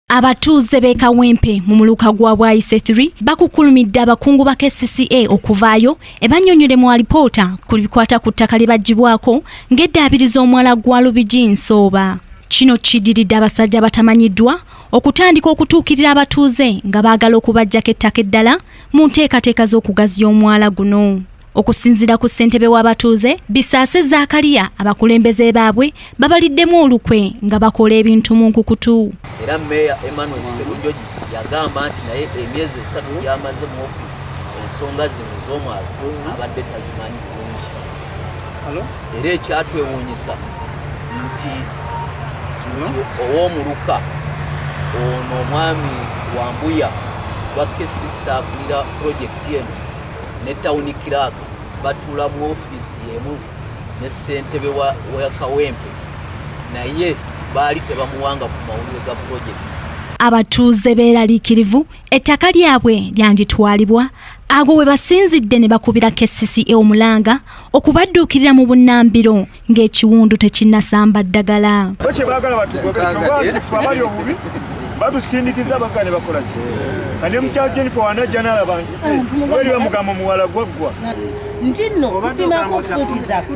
Abatuuze b'e Kawempe mu muluka gwa Bwayise 3 bakukulumidde abakungu ba KCCA okuvaayo ebanyonyole mu alipoota ku bikwata ku ttaka lye bagibwako ng'eddaabiriza omwala gwa Lubigi Nsooba. Kino kiddiridde abasajja abatamanyiddwa okutandika okutuukirira abatuuze nga baagala okubajjako ettaka eddala mu nteekateeka z'okugaziya omwala guno. Okusinzira ku ssentebe w'abatuuze, Bisaase Zaakaliya abakulembeze baabwe babaliddemu olukwe nga bakola ebintu mu nkukutu. Era meeya Emmanuel Sserunjogi yagamba nti naye emyezi esatu gy'amaze mu ofiisi ensonga zino ez'omwalo abadde tazimanyi bulungi. Era ekyatwewuunyisa nti ow'omuluka ono omwami Wambuya wa KCC akulira pulojekiti eno ne tawuni kiraaka batuula mu ofiisi yemu ne ssentebe wa kawempe naye baali tebamuwanga ku mawulire ga pulojekiti abatuuze beeraliikirivu ettaka lyabwe lyanditwalibwa ago we basinzidde ne bakubira kcca omulanga okubadduukirira mu bunnambiro ng'ekiwundu tekinnasamba ddagala batusindikiza bagane bakola ki kane mukyalo jennifer wanajja nalaba nti eh, weli bamugamba omuwala gwaggwa nti nno tufinako fuuti zaffe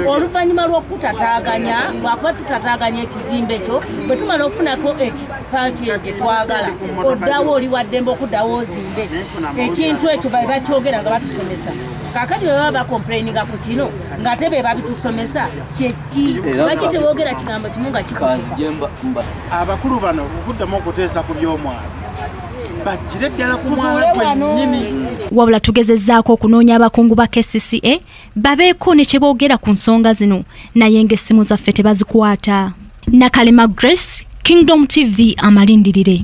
oluvannyuma lw'okutataganya lwakuba tutataganya ekizimbe kyo bwe tumala okufunako ekipaati eyo kye twagala oddawo oli waddembe okuddawo ozimbe ekintu ekyo bae bakyogera nga batusomesa kakati bwe baba bakomplaininga ku kino ng'ate be babitusomesa kyeki lwaki tebogera kigambo kimu nga kikutuka abakulu bano okuddamu okuteesa ku by'omwana bagire ddala ku mwana gwennyini wabula tugezezzaako okunoonya abakungu ba kcca babeeko ne kye boogera ku nsonga zino naye ng'essimu zaffe tebazikwata nakalema grace kingdom tv amalindirire